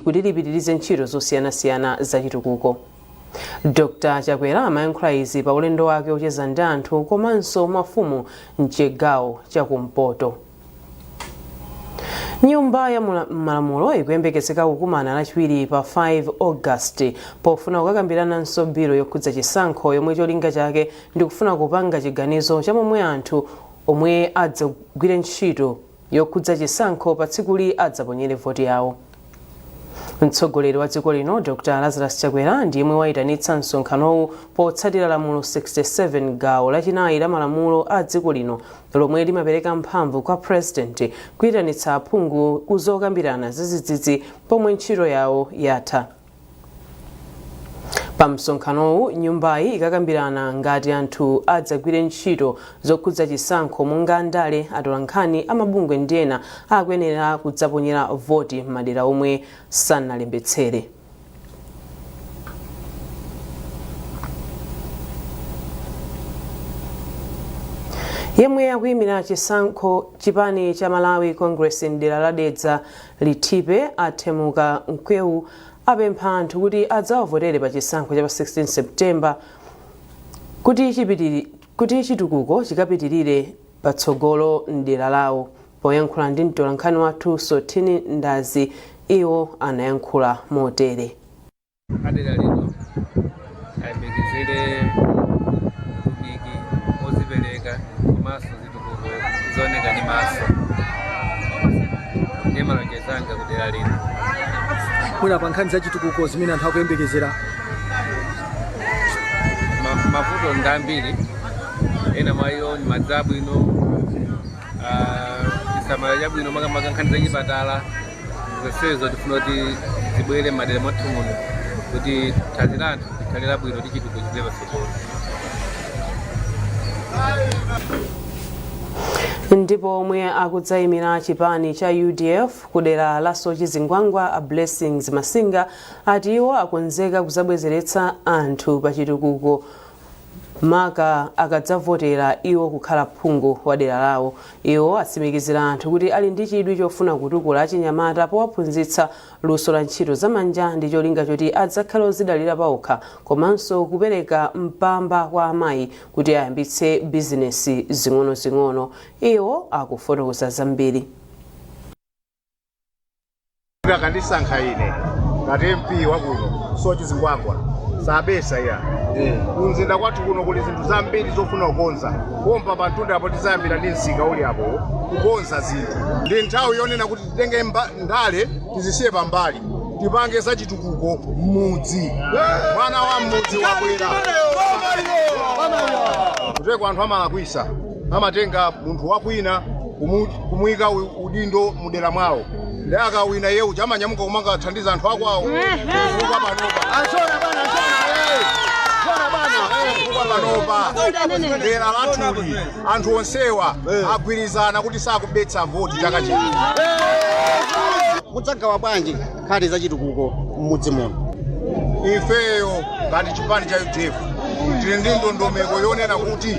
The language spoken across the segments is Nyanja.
kuti lipitirize ntchito zosiyanasiyana zachitukuko. Dr Chakwera amayankhula izi pa ulendo wake ocheza ndi anthu komanso mafumu mchigawo chakumpoto. Nyumba ya malamulo ikuyembekezeka kukumana lachiwiri pa 5 August pofuna kukakambirananso bilo yokhudza chisankho yomwe cholinga chake ndikufuna kupanga chiganizo cha momwe anthu omwe adzagwire ntchito yokhudza chisankho patsikuli adzaponyere voti yawo. Mtsogoleri wa dziko lino Dr Lazarus Chakwera ndi yemwe wayitanitsa msonkhanowu potsatira lamulo 67 gawo lachinayi la malamulo a dziko lino lomwe limapereka mphamvu kwa President kuyitanitsa aphungu ku zokambirana zadzidzidzi pomwe ntchito yawo yatha. pa msonkhanowu nyumbayi ikakambirana ngati anthu adzagwire ntchito zokhudza chisankho monga andale atolankhani amabungwe ndi ena akuyenera kudzaponyera voti m'madera omwe sanalembetsere yemwe akuyimira chisankho chipani cha malawi congress mdera la dedza Linthipe a Themuka Mkwewu apempha anthu kuti adzawavotere pa chisankho cha pa 16 September kuti chitukuko chikapitirire patsogolo m'dera lawo. Poyankhula ndi mtolankhani wathu Sotini Ndazi, iwo anayankhula motere. adera lino ayembekezere utumiki wozipereka komanso zitukuko zooneka ndi maso ndi malonjezo anga ku dera lino mwina pa nkhani za chitukuko zimene anthu akuyembekezera mavuto ndi ambiri ena mwa iwo ndi madzi abwino chisamaliro chabwino makamaka nkhani za chipatala zonsezo tifuna kuti zibwere m'madera mwathu muno kuti thanzi la anthu likhale labwino ndi chitukuko chipite patsogolo ndipo omwe akudzayimira chipani cha udf kudera la soche zingwangwa a blessings masinga ati iwo akonzeka kuzabwezeretsa anthu pa chitukuko maka akadzavotera iwo kukhala phungu wa dera lawo. Iwo atsimikizira anthu kuti ali ndi chidwi chofuna kutukula achinyamata powaphunzitsa luso la ntchito za manja ndi cholinga choti adzakhale ozidalira paokha komanso kupereka mpamba kwa amayi kuti ayambitse bizinesi zing'onozing'ono. Iwo akufotokoza zambiri. akandisankha ine ngati mp wakuno soche zingwangwa sabesa ya kumzinda kwathu kuno kuli zinthu zambiri zofuna kukonza pompa pa mtunda apo tizayambira ndi msika uli apo kukonza zinthu ndi nthawi yonena kuti titenge mba- ndale tizisiye pambali tipange za chitukuko m'mudzi mwana wa m'mudzi wabwera kuteko anthu amalakwisa amatenga munthu wakwina kumu- kumuyika u- udindo mudera mwawo nde akawina iye uja amanyamuka kumakathandiza anthu akwawo kufika panopa kufika panopa dera lathuli anthu onsewa agwirizana kuti sakubetsa voti chaka chino mudzagawa bwanji nkhani za chitukuko m'mudzi muno ifeyo ngati chipani cha udf tili ndi ndondomeko yonena kuti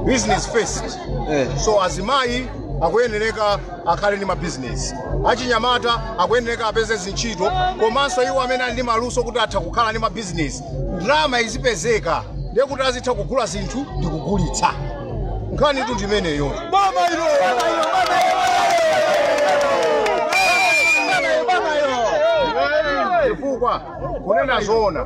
business first Eh. so azimayi akuyenereka akhale ndi mabizinesi achinyamata akuyenereka apeze zintchito komanso iwo amene ali ndi maluso kuti atha kukhala ndi mabizinesi ndalama izipezeka ndiye kuti azitha kugula zinthu ndi kugulitsa nkhanitu ndi imeneyo chifukwa kunena zoona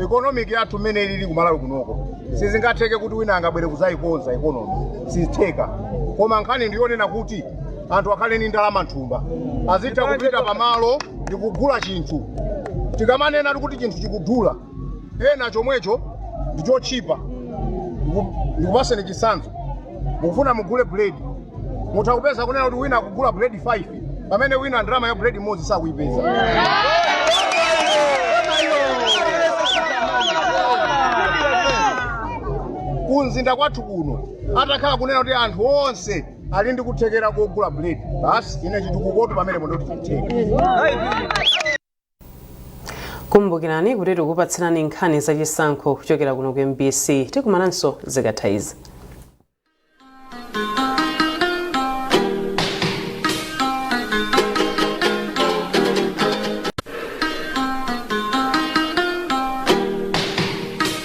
economic yathu mmene ilili kumalawi kunoko sizingatheke kuti wina angabwere kuzayikonza economy sizitheka koma nkhani ndiyonena kuti anthu akhale ni ndalama nthumba azitha kupita pamalo ndikugula chinthu tikamanena kuti chinthu chikudula ena chomwecho ndi chotchipa Ndiku- ndikupaseni chitsanzo mukufuna mugule buledi mutha kupeza kunena kuti wina akugula buledi 5 pamene wina ndalama ya buledi imodzi sakuyipeza kumzinda kwathu kuno atakhala kunena kuti anthu onse ali ndi kuthekera kogula buledi basi ine chitukukotu pamenepo nde kuti chitheka kumbukirani kuti tikupatsirani nkhani za chisankho kuchokera kuno ku mbc tikumananso zikatha izi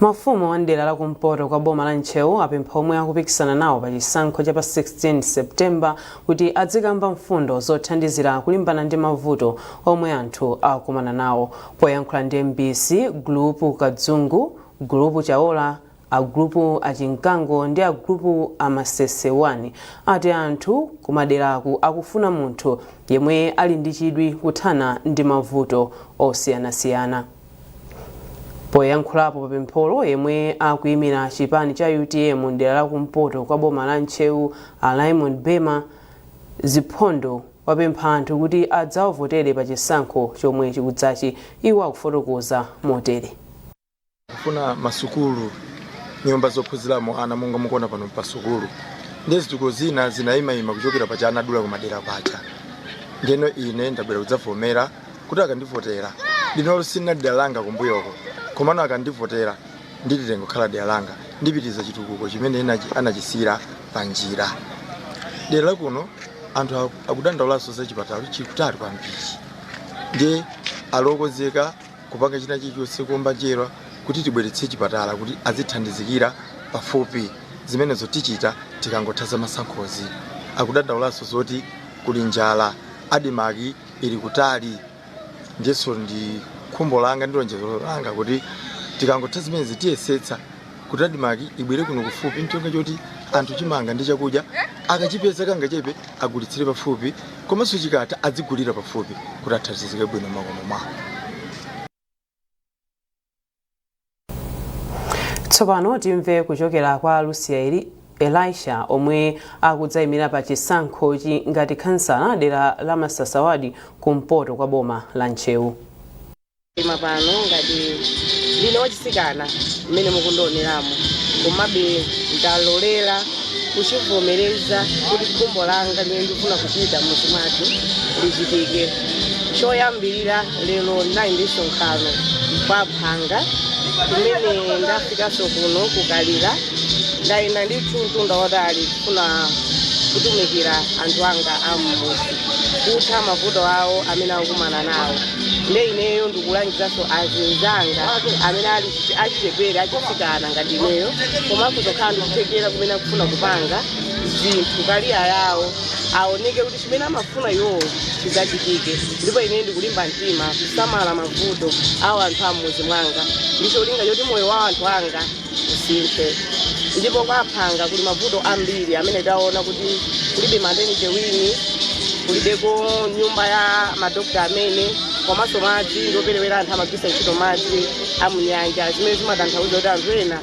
Mafumu a m'dera la kumpoto kwa boma la Ntcheu apempha omwe akupikisana nawo pa chisankho cha pa 16 September kuti adzikamba mfundo zothandizira kulimbana ndi mavuto omwe anthu akukumana nawo. Poyankhula ndi mbc, Gulupu Kadzungu, Gulupu Chaola, a Gulupu a Chinkango ndi a Gulupu a Masese 1 ati anthu kumaderaku akufuna munthu yemwe ali ndi chidwi kuthana ndi mavuto osiyanasiyana. poyankhulapo papempholo yemwe akuimira chipani cha utm mdera la kumpoto kwa boma la ntcheu a raymond bema ziphondo wapempha anthu kuti adzawavotere pa chisankho chomwe chikudzachi iwo akufotokoza motere kufuna masukulu nyumba zophunziramo ana monga mukuona pano pa sukulu ndi zitukuko zina zinayimayima kuchokera paja anadula kumadela paja ndeno ine ndabwera kudzavomera kuti akandivotera linoli silinali dera langa kumbuyoko komano akandivotera ndilitenga kukhala dera langa ndipitiriza chitukuko chimene anachisiyira pa njira dera lakuno anthu akudandaulaso za chipatala chikutali kwambiri ndiye ali okonzeka kupanga china chilichonse kuomba njera kuti tibweretse chipatala kuti azithandizikira pafupi zimenezo tichita tikangotha za masankhozi akudandaulaso zoti kuli njala adimaki ili kutali ndiyenso ndi khumbo langa ndi lonjezo langa kuti tikangotha zimenezi tiyesetsa kuti adimaki ibwere kuno kufupi ncholinga choti anthu chimanga ndi chakudya akachipeza kangachepe agulitsire pafupi komanso chikatha adzigulira pafupi kuti athandizike bwino makomo mwao tsopano timve kuchokera kwa lucia elisha omwe akudzayimira pa chisankhochi ngati khansala dera la masasa wadi kumpoto kwa boma la ntcheu koma pano ngati ndine wachitsikana mmene mukundioneramo komabe ndalolera kuchivomereza kuti khumbo langa limene ndikufuna kuchita m'mudzi mwathu lichitike choyambirira lero ndinali ndi msonkhano kwa phanga kumene ndafikanso kuno kukalira ndayenda ndi mtunda wautali kufuna kutumikira anthu anga am'mudzi kutha mavuto awo amene akukumana nawo nde ineyo ndikulangizanso azinzanga amene ali chi- achichepere achitsikana ngati ineyo komanso kukhala ndikuthekera kumene akufuna kupanga zinthu kaliya yawo aoneke kuti chimene amafuna iwowo chidzachitike ndipo ine ndikulimba mtima kusamala mavuto awo anthu am'mudzi mwanga ndi cholinga choti moyo wa anthu anga usinthe ndipo kwa phanga kuli mavuto ambiri amene taona kuti kulibe maternity wing kulibeko nyumba ya madokta amene komanso madzi ndioperewera anthu amagwiritsa ntchito madzi am'nyanja zimene zimatanthauza kuti anthu ena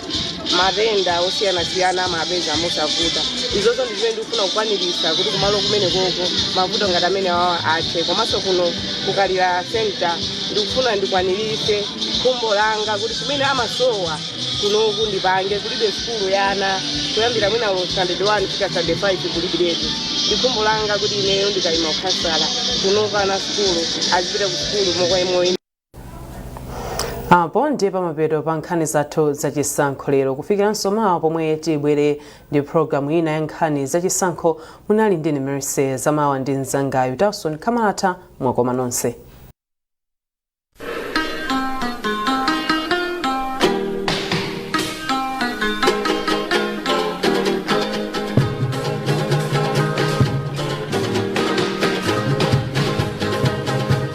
matenda osiyanasiyana amawapeza mosavuta izozo ndi zimene ndikufuna kukwaniritsa kuti kumalo kumenekoko mavuto ngati amene awa athe komanso kuno kukalira senta ndikufuna ndikwaniritse khumbo langa kuti chimene amasowa kunoku ndipange kulibe sukulu ya ana kuyambira mwina lo standard 1 kufika standard 5 kulibiretu ndi khumbo langa kuti ineyo ndikayima ukhansala kunoku ana sukulu azipita ku sukulu mokoyemoyi apo ndiye pamapeto pa nkhani zathu zachisankho lero kufikiranso mawa pomwe tibwere ndi programu ina ya nkhani zachisankho munali ndine mercy zamawa ndi mzangayu townson kamalata mwakoma nonse